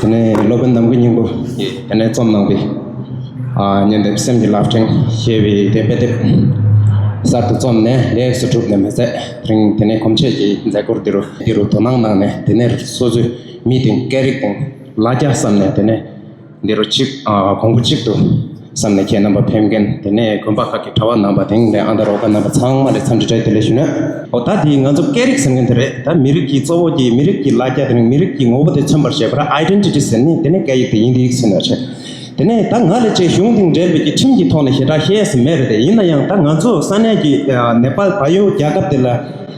དེ་ནས་སློབ་དཔོན་ནམ་མཁའི་སྙིང་པོ་དེ་ནས་རྩོམ་གནང་སྟེ། སྙན་དེབ་སེམས་ཀྱི་རླབས་ཕྲེང་ཞེས་པའི་དེབ་དཔེ་དེབ་གསར་དུ་རྩོམ་ནས་ལེགས་སུ་གྲུབ་ནས་མི་ཚད་རིང་དེ་ནས་གོམས་ཆོས་ཀྱི་མཛད་སྒོར་འདི་རུ་འདི་རུ་དོ་སྣང་གནང་ནས་དེ་ནས་སོ་སོའི་མི་དང་སྐད་རིགས་དང་ལ་རྒྱ་བསམ་ནས་དེ་ནས་འདི་རུ་གཅིག་གོང་བུ་གཅིག་ཏུ་བསམ་ནས་ཁྱེད་རྣམ་པ་ཕེབས་མཁན་དེ་ནས་དགོན་པ་ཁག་གི་གྲྭ་བ་རྣམ་པ་དེང་ནས་ཨ་མདོ་རོག་ཁ་རྣམ་པ་ཚང་མ་ལས་འཚམས་འདྲི་བྲལ་དེ་ལས་ཞུ་ན། ཨོ་ད་དེ་ང་ཚོ་སྐད་རིགས་ཟེར་མཁན་དེ་རེད་ད་མི་རིགས་ཀྱི་གཙོ་བོ་ཀྱི་མི་རིགས་ཀྱི་ལ་རྒྱ་དེ་རིང་མི་རིགས་ཀྱི་ངོ་བོ་དེ་མཚོན་པར་བྱེད་པར Identity ཟེར་ནི་དེ་ནས་སྐད་ཡིག་དེ་ཡིན་དེ་ཡིག་ཟེར་ནས་བྱེད། དེ་ནས་ད་ང་ལས་བཅས་གཞུང་དེང་འབྲེལ་མེད་ཀྱི་ཁྲིམས་ཀྱི་ཐོག་ནས་ཞེ་དྲག་བཤད་ས་མེད་རེད་ཡིན་ན་ཡང་ད་ང་ཚོ་ས་གནས་ཀྱི Nepal བལ་ཡུལ་རྒྱལ་ཁབ་དེ་ལ་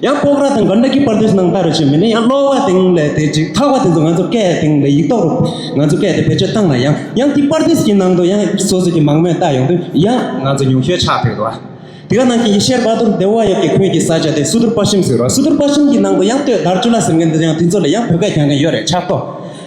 ཡང་པོག་ར་དང་གར་འདྲ་གི་པར་དུས་ནང་ལྟར་བྱོས་མིན་ནི་ཡང་ཀློག་པ་སྟེང་ལས་དེ་ཅིག་ཐག་པ་དེ་ཚོ་ང་ཚོ་སྐད་སྟེང་ལས་ཡིག་ཐོག་རུ་ང་ཚོ་སྐད་དེ་བེད་སྤྱོད་བཏང་ན་ཡང་ཡང་དེ་པར་དུས་ཀྱི་ནང་དུ་ཡང་སོ་སོ་གི་མང་མོས་བལྟ་ཡོང་དུས་ཡང་ང་ཚོ་ཉུང་ཤོས་ཆགས་ཕེབས་འདུག་དེ་ག་ནང་གི་ཡེ་ཤེས་བ་དོར་སྡེ་བ་ཡོད་ཀྱི་ཁོན་གྱི་ས་ཆ་དེ་སུ་དོར་པ་ཤིམ་ཟེར་རོ་སུ་དོར་པ་ཤིམ་གྱི་ནང་དུ་ཡང་སྟོད་དར་ཅུ་ལ་ཟེར་མཁན་དེ་ཚོ་ཡང་དེ་ཚོ་ལ་ཡང་བོད་སྐད་གྱང་མཁན་ཡོད་རེད་ཆགས་ཐོག་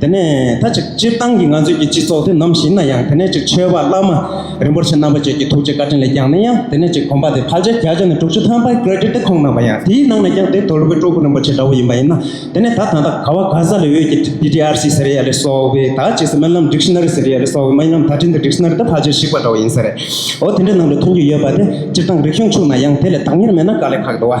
དེ་ནས་ད་ཅིག་སྤྱིར་བཏང་གི་ང་ཚོས་ཀྱི་སྤྱི་ཚོགས་དེ་ནམ་ཞིག་ན་ཡང་དེ་ནས་ཅིག་ཆོས་པ་བླ་མ་རིན་པོ་ཆེ་རྣམ་པ་བཅས་ཀྱི་ཐུགས་རྗེ་བཀའ་དྲིན་ལས་ཀྱང་ནི་ཡང་དེ་ནས་ཅིག་གོམ་པ་དེ་ཕལ་ཆེར་བརྒྱ་ཆ་ནི་དྲུག་ཅུ་ཐམ་པའི Credit དེ་ཁོང་གནང་བ་ཡང་དེའི་ནང་ནས་ཀྱང་དེ་དོལ་པོའི་སྤྲུལ་སྐུ་རིན་པོ་ཆེ་འདྲ་བོ་ཡིན་པ་ཡིན་ན་དེ་ནས་ད་ད་ལྟ་ག་བ་ག་ས་ལས་འོས་ཀྱི DDRC ཟེར་ཡ་ལས་སོགས་པའི་ད་ཅིག་སེ་སྨོན་ལམ Dictionary ཟེར་ཡ་ལས་སོགས་པའི་སྨོན་ལམ་ད་དྲིན་དེ Dictionary དེ་ཕལ་ཆེར་བཤིག་པ་འདྲ་བོ་ཡིན་ས་རེད་འོ་དེ་འདྲའི་ནང་དུ་མཐོང་རྒྱུ་ཡོད་པ་དེ་སྤྱིར་བཏང་རིག་གཞུང་ཆུང་ན་ཡང་དེ་ལས་དག་གཉེར་མེད་ན་དཀའ་ལས་ཁག་འདུག་བ།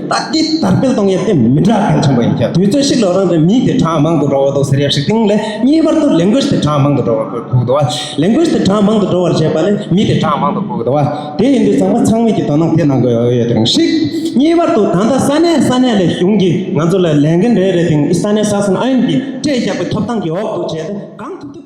ད་ལྟའི་དར་སྤེལ་གཏོང་ཡུལ་དེ་མི་འདྲ་གང་ཆེན་པོ་ཡིན་ཀྱང་དུས་ཚོད་ཤིག་ལོ་རང་རེའི་མིའི་དེ་གྲངས་མང་དུ་འགྲོ་བ་དང་ཟེར་ཡག་ཞིག་དེང་ལས་གཉིས་བར་དུ་ལས་འགུལ་དེ་གྲངས་མང་དུ་འགྲོ་བར་གོ་དགོས་བ། ལས་འགུལ་དེ་གྲངས་མང་དུ་འགྲོ་བར་བྱེད་པ་ནི་མི་དེ་གྲངས་མང་དུ་གོ་དགོས་བ། དེ་ཡིན་དུས་ཚང་མ་ཚང་མིག་གིས་དོ་སྣང་དེ་གནང་དགོས་ཡོད་རིང་ཞིག། གཉིས་བར་དུ་ད་ལྟ་ས་གནས་ས་གནས་ལས་གཞུང་གིས་ང་ཚོ་ལ་ལས་འགན་རེ་རེ་དེང་ས་གནས་ས་གསུམ་ཨ་ཡོམ་གྱིས་སྤྲད་བཞག་པའི་ཐོབ་ཐང་གི་འོག་ཏུ་བྱས་ཏེ་གང་ཐུབ་ཐུབ་དེ།